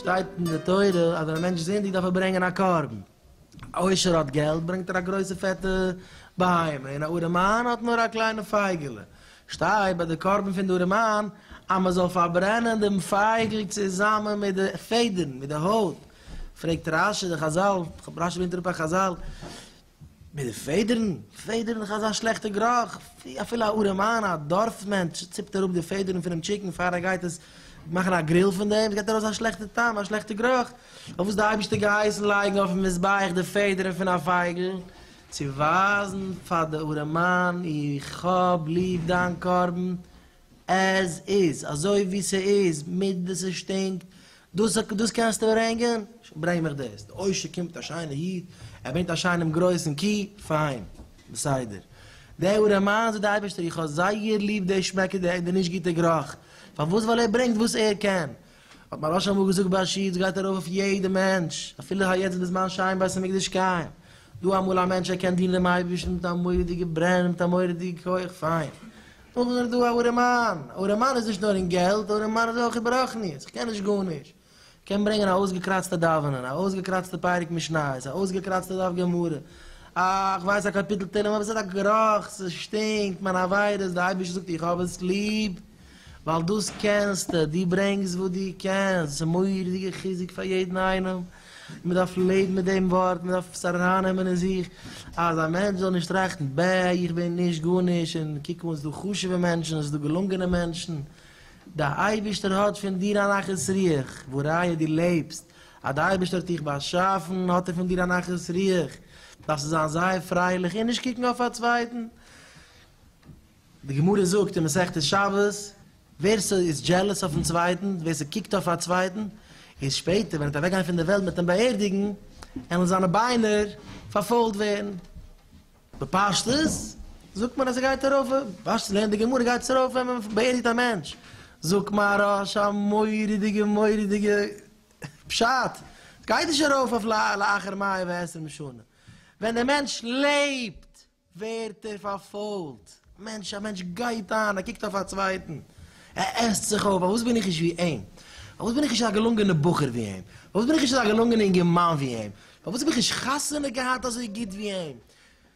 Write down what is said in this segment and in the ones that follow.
שטייט אין די תורה אז ווען א מענטש איז זינדיג דארף ער ברענגען א קרבן. א עושר האט געלט ברענגט ער א גרויסע פעטע בהמה, און א ארעמאן האט נאר א קליינע פייגעלע. שטייט ביי די קרבן פון די ארעמאן אז מען זאל פארברענען דעם פייגל צוזאמען מיט די פעדערן, מיט די הויט, פרעגט רש י די חזל, כ'האב רש י ברענגט אראפ א חזל, מיט די פעדערן? פעדערן איז אזא שלעכטע גראך, אפילו א ארעם איין, א דארף מענטש, ציפט אראפ די פעדערן פונעם טשיקן פאר ער גייט עס מאכן א גריל פון דעם, עס געבט ארויס א שלעכטע טעם, א שלעכטע גראך, אויף וואס די אייבערשטער געהייסן לייגן אויפן מזבח די פעדערן פון א פייגל, צו ווייזן פאר די ארעמאן איך האב ליב דיין קרבן, עז איז, אזוי ווי ס'איז, מיט די ס'שטינקט, דאס דאס קענסטו ברענגען? ברענג מיך דאס. די עושר קומט א שיינער איד, ער ברענגט א שיינעם גרויסן קי, פיין, בסדר. דער וואס דערמאנט זיך די אייבערשטער, איך האב זייער ליב די שמעק און די נישט גוטע גרוך, פארוואס? ווייל ער ברענגט וואס ער קען. האט מיין ראש אמאל געזאגט בעשית, ס'גייט ארויף אויף יעדע מענטש, אפילו היי יעצט בזמן שיין בית המקדש קיים, דא אמאל א מענטש ער קען דינען דעם אייבערשטן מיט א מורא'דיגע ברען און מיט א מורא'דיגע כח, פיין. אויך איז ער דא א ארעמאן, א ארעמאן איז נישט נאר אין געלט, א ארעמאן איז אויך אין ברחניות, איך קען נישט גארנישט, איך קען ברענגען א אויסגעקראצטע דאווענען, א אויסגעקראצטע פרק משניות, א אויסגעקראצטע דף גמרא, א איך ווייס א קאפיטל תהלים, אבער עס האט א גערוך, ס'שטינקט, מיין עבירות, די אייבערשטער זאגט איך האב עס ליב, ווייל דאס קענסטו, דו ברענגסט וואס דו קענסט, ס'איז מורא'דיגע חיזוק פאר יעדן איינעם. מען דארף לעבן מיט דעם ווארט, מען דארף עס ארייננעמען אין זיך, אז א מענטש זאל נישט טראכטן, בע, איך בין נישט גארנישט, און קוק אן, עס איז דא חשוב'ע מענטשן, עס איז דא געלונגענע מענטשן, די אייבערשטער האט פון דיר א נחת רוח, וואו ראיה דו לעבסט, אז די אייבערשטער האט דיך באשאפן, האט ער פון דיר א נחת רוח, דארפסטו זיין זייער פרייליך און נישט קוקן אויף א צווייטן. די גמרא זאגט אין מסכת שבת, ווער ס'איז דזשעלעס אויפן צווייטן, ווער ס'קוקט אויף א צווייטן, איז שפעטער ווען ער וועט אוועקגיין פון דער וועלט מיטן באערדיגן, עלן זיינע ביינער פארפוילט ווערן. בפשטות זאגט מען אז ער גייט ארויף, בפשטות לערנט די גמרא גייט עס ארויף ווען מען באערדיגט א מענטש. זאגט מהרש א מורא'דיגע מורא'דיגע פשט, ס'גייט נישט ארויף אויף לאחר מאה ועשרים שנה, ווען דער מענטש לעבט. ווערט ער פארפוילט. מענטש, א מענטש גייט איין, ער קוקט אויף א צווייטן, ער עסט זיך אויף, פארוואס בין איך נישט ווי אים? פארוואס בין איך נישט אזא געלונגענער בחור ווי אים? פארוואס בין איך נישט אזא געלונגענער אינגערמאן ווי אים? פארוואס האב איך נישט חתונה געהאט אזוי גוט ווי אים?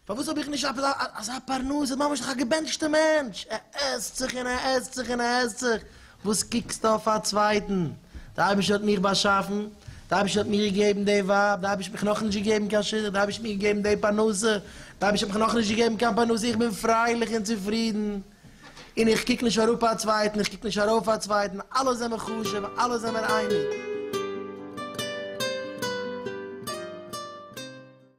פארוואס האב איך נישט אזא פרנסה? ממש דאך א געבענטשטע מענטש, ער עסט זיך און ער עסט זיך און ער עסט זיך, וואס קוקסטו אויף א צווייטן? דער אייבערשטער האט מיך באשאפן, דער אייבערשטער האט מיר געגעבן די ווייב, דער אייבערשטער האט מיך נאכנישט געגעבן קיין שידוך, דער אייבערשטער האט מיר געגעבן די פרנסה, דער אייבערשטער האט מיך נאכנישט געגעבן קיין פרנסה, איך בין פרייליך און צופרידן, און איך קוק נישט אראפ א צווייטן, איך קוק נישט ארויף א צווייטן, אלע זעמיר חשוב, אלע זעמיר אייניג.